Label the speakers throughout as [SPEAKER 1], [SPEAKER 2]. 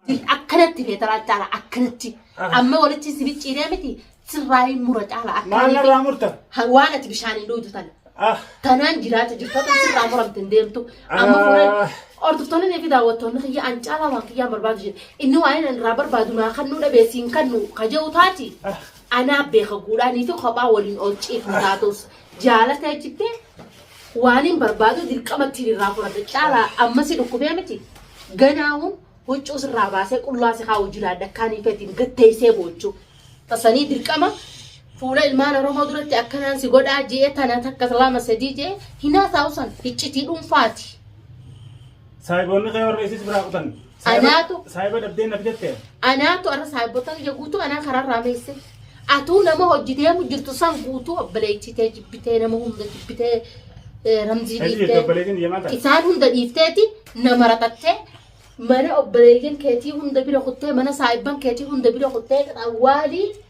[SPEAKER 1] Jirti akkanatti feetaraa caala akkanatti amma walitti si bicciiree miti sirraayi mura caala Maal akkanatti narraa murta?
[SPEAKER 2] Ha- waan ati bishaaniin
[SPEAKER 1] dhuutu tana. Ah, Tanaan jiraata jirtu akka sirraa muramte hin deemtu. Amma Ah. fuudhee hordoftoonni fi daawwattoonni kiyya an caalaa waan kiyyaan barbaadu jedhe. Inni waan inni irraa barbaadu naa kan nu dhabee siin kan nu kaja'u taati. Anaa beeka guudhaanii fi kophaa waliin oolchiif nu taatus jaalatee jittee Waanin barbaadu dirqama ittiin irraa fudhadha. Caalaa amma si dhukkubee miti. Ganaawun huccuu sirraa baasee qullaa si kaa'u jiraadha akkaan hiikeetiin gatteessee boochuu. Tasanii dirqama fuula ilmaan Oromoo duratti akkanaan si godhaa jee tana takka lama sadii jee hinaa taa'usan hiccitii dhuunfaati.
[SPEAKER 2] Saahiboonni kee warra isis biraa kutan Anaatu. Saayiba dhabdee naf jette. Anaatu arra
[SPEAKER 1] saayibota kiyya guutuu anaa karaarraa meesse. Atuu nama hojii deemu jirtu san guutuu obboleechitee jibbitee nama hunda jibbitee ramzii dhiiftee. Isaan hunda dhiifteeti nama ratattee mana obboleeyyan keetii hunda bira kuttee mana saayibban keetii hunda bira kuttee waalii.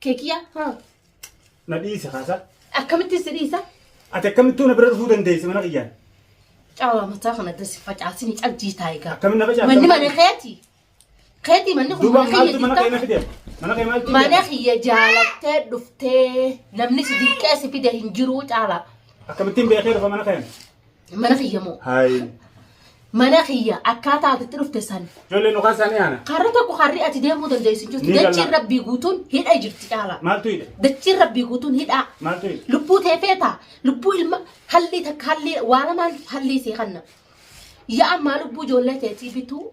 [SPEAKER 1] Keekiya. Na dhiisi
[SPEAKER 2] kaasa. Akkamitti si dhiisa?
[SPEAKER 1] Ati akkamittuu na
[SPEAKER 2] bira dhufuu dandeessi mana kiyyaan. Cawaa
[SPEAKER 1] mataa kana dasi facaasini cabdii taa'e gaa. Akkamitti na facaafta? Manni mana
[SPEAKER 2] keeti.
[SPEAKER 1] Keeti manni kun Duuba mana maaltu mana kee na
[SPEAKER 2] keeti. fide? Mana kee maaltu Mana fide? kiyya jaalattee
[SPEAKER 1] dhuftee namni si dirqee si fide hin jiruu caalaa. Akkamittiin beekee dhufa
[SPEAKER 2] mana keen? Mana kiyya
[SPEAKER 1] moo. Hayi.
[SPEAKER 2] Mana
[SPEAKER 1] kiyya akkaataa ati itti dhufte san. Ijoollee nu kaasaan yaana.
[SPEAKER 2] Karra tokko karri ati
[SPEAKER 1] deemuu dandeessu Ni jirti. galla. Dachiin rabbii guutuun hidha jirti caalaa. Maaltu hidha? Dachiin
[SPEAKER 2] rabbii guutuun
[SPEAKER 1] hidhaa. Maaltu hidha? Lubbuu
[SPEAKER 2] tee feetaa.
[SPEAKER 1] Lubbuu ilma hallii takka hallii waana maal hallii sii kanna. Yaa ammaa lubbuu ijoollee teetii bituu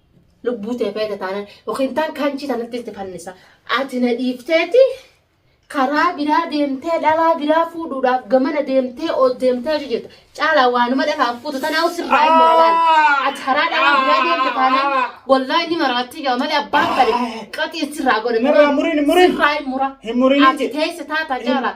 [SPEAKER 1] lubbuu tee feete taanaan yookiin taan kaanchii tanatti itti fannisa ati na dhiifteeti karaa biraa deemtee dhalaa biraa fuudhuudhaaf gamana deemtee oos deemtee hojii jirta caalaa waanuma dhalaaf fuutu tanaa sirraa hin maralaan ati karaa dhalaa biraa deemte taanaan wallaa inni maraattii jaa malee abbaan kale qaxii sirraa godhe Murraa, murin, murin. sirraa hin
[SPEAKER 2] mura Hin
[SPEAKER 1] murin ati jechuudha. teesse
[SPEAKER 2] taata
[SPEAKER 1] caalaa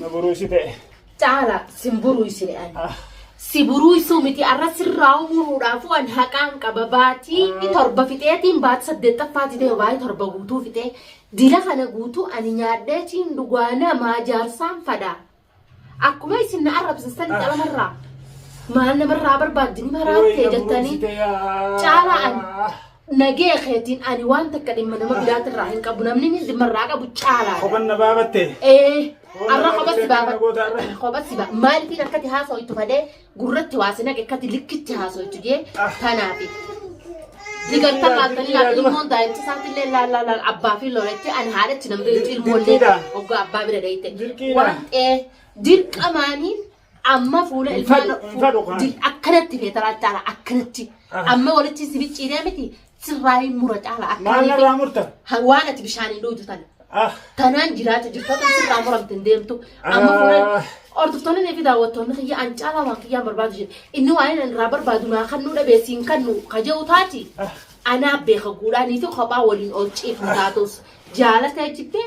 [SPEAKER 1] Na buruusite.
[SPEAKER 2] Caala sin
[SPEAKER 1] buruusine ani. Si buruusuu miti arra sirraa umuruudhaafuu an haqaan qaba baatii inni torba fixeetiin baatii saddeettaffaa fixee baatii torba guutuu fixee dila kana guutuu ani nyaadhee ciin dhugaa namaa jaarsaan fadha. Akkuma isin na arrabsisan calamarraa maal namarraa barbaaddu ni maraattee jettanii caalaa ani Nagee keetiin ani waan takka dhimma nama biraati irraa hin qabu namni inni dhimma irraa qabu caalaa. Kophan na baabatte.
[SPEAKER 2] Ee
[SPEAKER 1] arra kophatti baaba kophatti baaba maaliif akkati haasoo itti fadee gurratti waa si naqe akkati likkitti haasoo itti jee tanaafi. Digartan laaltanii laata ilmoon daa'imti isaatti illee laal laal laal abbaa fi looretti ani haadhatti namni ilmoollee oggaa abbaa bira deeyte. Dirqiidha. Waan ta'ee dirqamaanii Amma fuula Hin ilmaan fedhu, hin fedhu kaan. Dil- akkanatti feetaraa caala akkanatti Aha. amma walitti si bicciiree miti sirraa hin mura caala Maal akkanatti narraa murta? Ha-
[SPEAKER 2] waan ati bishaaniin
[SPEAKER 1] dhugdu tana. Ah, Tanaan jiraata jirtoota sirraa muramte hin deemtu. Amma Ah. fuula hordoftoonni fi daawwattoonni kiyya an caalaa waan kiyyaan barbaadu jedhe. Inni waan inni irraa barbaadu naa kan nuu dhabeessi hin kan nuu kaja'u taati. ah. Anaa beeka guudhaanii fi kophaa waliin ol ciifnu taatus jaalata jettee